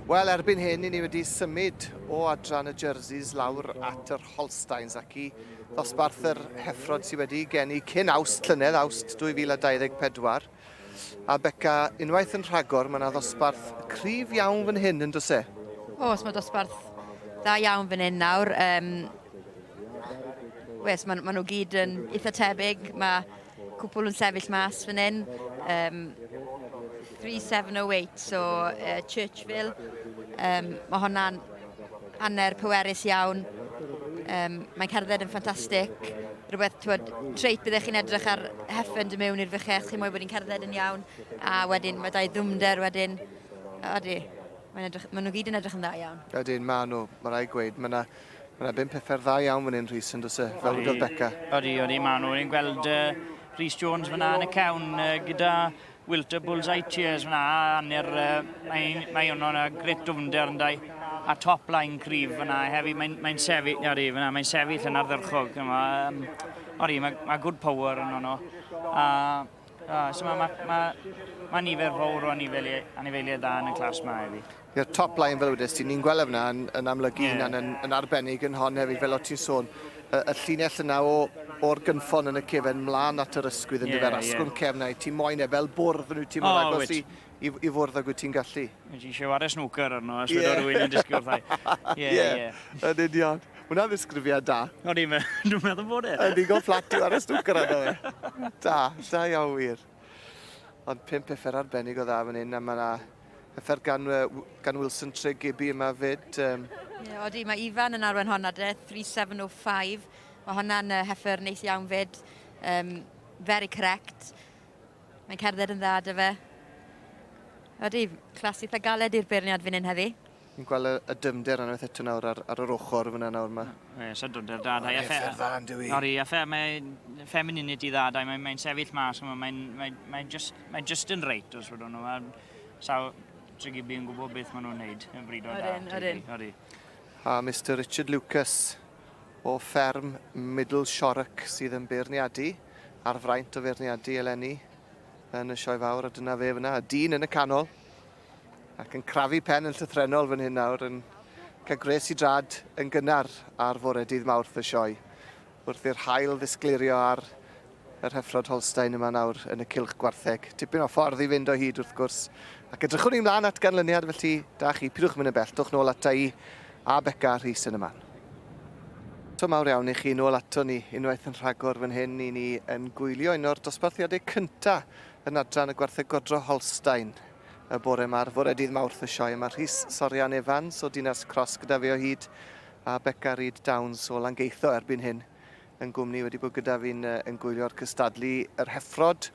Wel, erbyn hyn, ni wedi symud o adran y Jerseys lawr at yr Holsteins ac i ddosbarth yr heffrod sydd wedi geni cyn awst llynedd, awst 2024. A Beca, unwaith yn rhagor, mae yna ddosbarth cryf iawn fan hyn yn dose? Os mae dosbarth dda iawn fan hyn nawr. Um, Wes, maen ma nhw gyd yn eitha tebyg. Mae cwpl yn sefyll mas fan hyn. Um, 3708, so uh, Churchville. Um, mae honna'n hanner pwerus iawn. Um, mae cerdded yn ffantastig. Rhywbeth, twyd, treit byddech chi'n edrych ar heffen dy mewn i'r fychell, chi'n mwy bod hi'n cerdded yn iawn. A wedyn, mae dau ddwmder wedyn. Odi, maen nhw gyd yn edrych yn dda iawn. Ydyn, maen nhw, mae'n rhaid gweud. Mae yna Mae yna bum pethau dda iawn fan hyn, Rhys, yn dwyse, fel wedodd Becca. Odi, odi, maen nhw. Ni'n gweld uh, Rhys Jones fyna yn y cawn uh, gyda Wilter Bullseye Cheers fyna. Aner, uh, mae, mae hwnnw yna gret dwfnder yn dau. A top line cryf fyna hefyd. Mae'n mae sefyll, odi, fyna, mae'n sefyll yn ardderchog. Yma, um, odi, mae, mae good power yn hwnnw. A, a so mae ma, ma, ma nifer fawr o anifeiliaid dda yn y clas mae hefyd. Ie, top line fel wedes ti, ni'n gweld e fna yn, yn amlygu yeah. hynna'n yn, yn arbennig yn hon hefyd, fel o ti'n sôn, y, y llinell yna o, o'r gynffon yn y cefen mlaen at yr ysgwydd yn yeah, dyfer asgwrn yeah. cefn i, ti'n moyn e fel bwrdd yn wyt ti'n oh, agos i, i, i fwrdd ag wyt ti'n gallu. Wyt ti'n siarad ar snwcer arno, a swydo yeah. rhywun yn disgwyl wrthau. Ie, ie. Yn union. Hwna'n ddisgrifiad da. O, ni'n meddwl bod e. Yn ddigon fflat yw ar y snwcer arno fe. Da, da iawn wir. Ond pum pethau arbennig o dda fan hyn, a mae yna pethau gan, gan Wilson Tre Gibby yma fyd. Um... Ie, odi, mae Ifan yn arwen honna de, 3705. Mae hwnna'n uh, heffer neis iawn fyd. Um, very correct. Mae'n cerdded yn dda dy fe. Odi, clas eitha galed i'r beirniad fan hyn heddi. Ni'n gweld y dymder unwaith eto nawr ar, ar yr ochr fyna nawr yma. Ie, so dymder da. Dau affair. Affair dda, ynddo i. Ori, affair, mae femininity dda, dau, mae'n mae sefyll mas, mae'n mae, mae, mae just, mae just yn reit os fydden nhw. A sawl trigibi yn gwybod beth maen nhw'n neud yn bryd o da. Orin, orin. Ori. A Mr Richard Lucas o fferm Middle Shorrock sydd yn beirniadu ar fraint o feirniadu eleni yn y sioe fawr a dyna fe fyna, y dyn yn y canol. Ac yn crafu pen yn llythrenol fan hyn nawr yn cael gwres i drad yn gynnar ar fore dydd Mawrth y sioe. Wrth i'r hael ddisglirio ar yr hyffrod Holstein yma nawr yn y cylch gwartheg. Tipyn o ffordd i fynd o hyd wrth gwrs. Ac edrychwn ni mlaen at ganlyniad felly da chi, pidwch mynd yn bell, dwch nôl ata i a Beca Rhys yn y man. To mawr iawn i chi nôl ato ni unwaith yn rhagor fan hyn i ni yn gwylio un o'r dosbarthiadau cyntaf yn adran y gwartheg godro Holstein y bore 'ma, ar fore dydd Mawrth y sioe. Mae Rhys Sorian Evans o Dinas Cross gyda fi o hyd a Beca Reid Downs o Langeitho erbyn hyn yn gwmni wedi bod gyda fi'n uh, yn gwylio'r cystadlu yr heffrod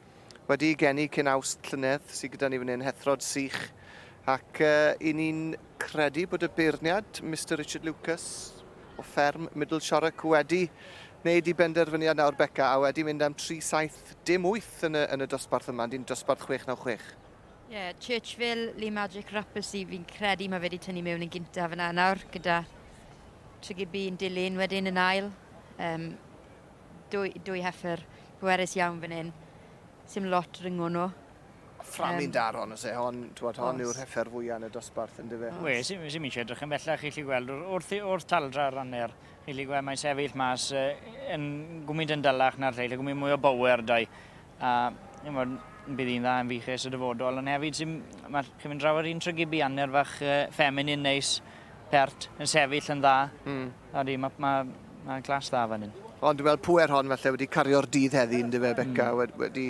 wedi ei geni cyn awst llynedd sydd gyda ni fan hyn, heffrod sych ac uh, i ni'n credu bod y beirniad Mr Richard Lucas o fferm Middle Shorrock wedi wneud i benderfyniad nawr Beca a wedi mynd am 3-7 wyth, dim wyth yn y, yn y dosbarth yma, ond yn dosbarth 696. Ie, Churchville, Lee Magic Rappersy, fi'n credu mae fe wedi tynnu mewn yn gyntaf yna nawr, gyda Tregibi yn dilyn wedyn yn ail. Um, dwy, dwy heffer pwerus iawn fan hyn. Sim lot ryngo nhw. Fframin um, daron, os e hon, twod, hon yw'r heffer fwyaf yn y dosbarth yn dyfe. Ie, sy'n mi eisiau edrych yn bellach i chi gweld wrth, wrth taldra ranner Yli gwe mae'n sefyll mas yn gwmynt yn dalach na'r lleill, yn gwmynt mwy o bower dau. A chymod, bydd hi'n dda yn fiches y dyfodol, ond hefyd sy'n, mae chi'n mynd draw ar un trygibu anner fach uh, ffeminin neis, pert, yn sefyll yn dda. Mm. Odi, mae ma, ma glas dda fan hyn. Ond dwi'n gweld pwer hon falle wedi cario'r dydd heddi yn dyfe, Beca, mm. wedi...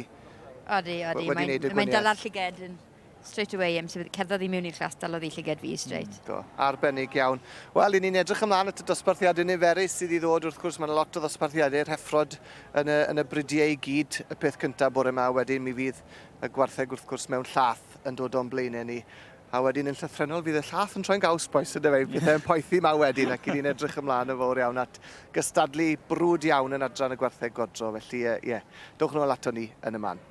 Odi, odi, mae'n mae, mae dala'r llygedyn. Straight away, am sefyd, cerddodd i mewn i'r clas, dalodd i llyged fi, straight. Mm, do, arbennig iawn. Wel, i ni'n edrych ymlaen at y dosbarthiadau niferus sydd i ddod, wrth gwrs, mae'n lot o ddosbarthiadau rheffrod yn y, yn y bridiau i gyd, y peth cyntaf bore yma, wedyn mi fydd y gwartheg, wrth gwrs, mewn llath yn dod o'n blaenau ni. A wedyn yn llythrenol fydd y llath yn troi'n gaws boes yna fe, pethau yn poethi ma wedyn ac i ni'n edrych ymlaen yn fawr iawn at gystadlu brwd iawn yn adran y gwartheg godro, felly ie, yeah, dowch nôl ato ni yn y man.